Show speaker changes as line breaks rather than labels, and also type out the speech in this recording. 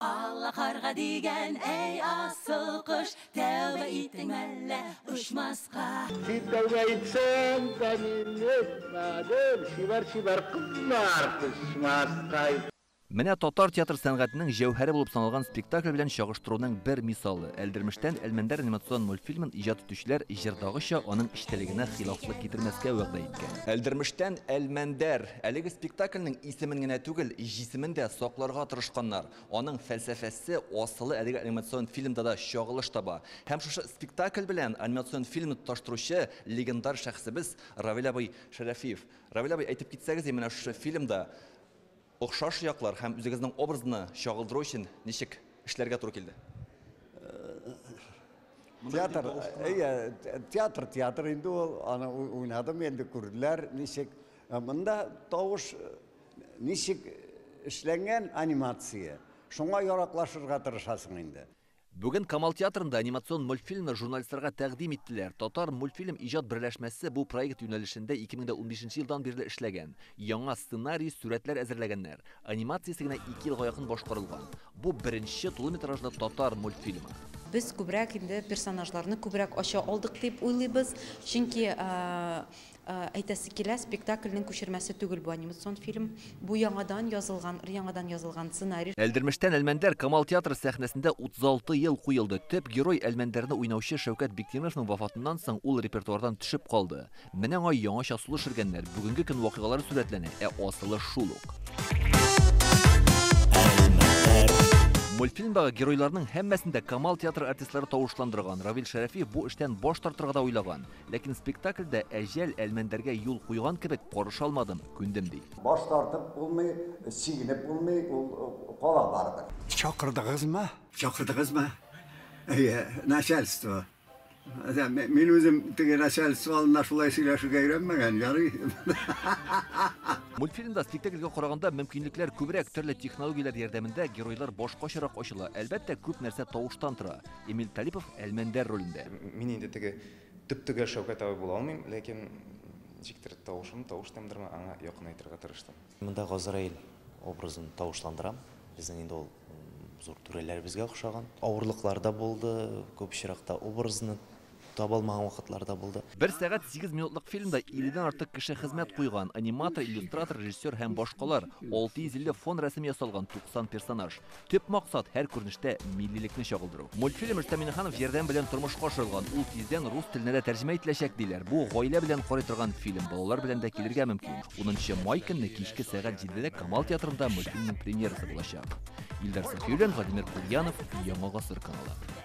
Алла карга дигән, әй асыл кош, Тәүбә иттең мәллә очмаска? Син
тәүбә итсәң, тәмин итмәдем, Чибәр-чибәр кызлар кочмаска. Менә
татар театр сәнгатенең җәүһәре булып саналган спектакль белән чагыштыруның бер мисалы, Әлдермештән Әлмәндәр анимацион мультфильмын иҗат итүчеләр җырдагыча аның эчтәлегенә хилафлык китермәскә вәгъдә иткән. Әлдермештән Әлмәндәр Әлеге спектакльнең исемен генә түгел, җисемен дә сакларга тырышканнар. Аның фәлсәфәсе, асылы әлеге анимацион фильмда да чагылыш таба. Һәм шушы спектакль белән анимацион фильмны тоташтыручы легендар шәхесебез Равил абый Шәрәфиев. Равил абый, әйтеп китсәгез, менә шушы фильмда охшаш яклар һәм үзегезнең образны чагылдыру өчен ничек эшләргә туры килде? Театр,
әйе, театр, театр инде ул. Аны уйнадым, инде күрделәр, ничек. Ә монда тавыш ничек эшләнгән анимация, шуңа яраклашырга тырышасың инде. Бүген Камал
театрында анимацион мультфильмны журналистларга тәкъдим иттеләр. Татар мультфильм иҗат берләшмәсе бу проект юнәлешендә 2015 нче елдан бирле эшләгән. Яңа сценарий, сурәтләр әзерләгәннәр. Анимациясе генә ике елга якын башкарылган. Бу беренче тулыметражлы татар мультфильмы. Без күбрәк
инде персонажларны күбрәк ача алдык дип уйлыйбыз, чөнки Әйтәсе килә, спектакльнең күчермәсе түгел бу анимацион фильм. Бу яңадан язылган, өр-яңадан язылган сценарий. Әлдермештән Әлмәндәр
Камал театры сәхнәсендә 36 ел куелды. Төп герой, Әлмәндәрне уйнаучы Шәүкәт Биктимеровның вафатыннан соң ул репертуардан төшеп калды. Менә аңа яңача сулыш шергәннәр, бүгенге көн вакыйгалары сурәтләнә, ә асылы шул ук. Мультфильмдагы геройларның һәммәсен дә Камал театры артистлары тавышландырган. Равил Шәрәфиев бу эштән баш тартырга да уйлаган. Ләкин спектакльдә әҗәл Әлмәндәргә юл куйган кебек карыша алмадым, күндем, ди. Баш тартып булмый,
чигенеп булмый, ул кала барыбер. Чакырдыгызмы? Чакырдыгызмы?
Әйе, начальство. Мин үзем теге начальство алдында шулай сөйләшергә өйрәнмәгән, ярый.
Мультфильмда спектакльгә караганда мөмкинлекләр күбрәк, төрле технологияләр ярдәмендә геройлар башкачарак ачыла. Әлбәттә, күп нәрсә тавыштан тора. Эмиль Талипов Әлмәндәр ролендә. Мин инде теге
төп-төгәл Шәүкәт абый була алмыйм, ләкин ничектер тавышым, тавыш тембрыма аңа якынайтырга тырыштым. Монда Газраил
образын тавышландырам. Безнең инде ул зур түрәләребезгә охшаган. Авырлыклар да булды, күп очракта образны Таба алмаган вакытлар да булды. Бер сәгать сигез
минутлык фильмда 50 дән артык кеше хезмәт куйган, аниматор, иллюстратор, режиссер һәм башкалар, 650 фон рәсеме ясалган, 90 персонаж. Төп максат, һәр күренештә миллилекне чагылдыру. Мультфильм Рөстәм Миңнеханов ярдәме белән тормышка ашырылган, ул тиздән рус теленә дә тәрҗемә ителәчәк, диләр. Бу, гаилә белән карый торган фильм, балалар белән дә килергә мөмкин. Унынчы май көнне кичке сәгать җидедә Камал театрында мультфильмның премьерасы булачак. Илдар Сафиуллин, Владимир Кульянов, Яңа гасыр каналы.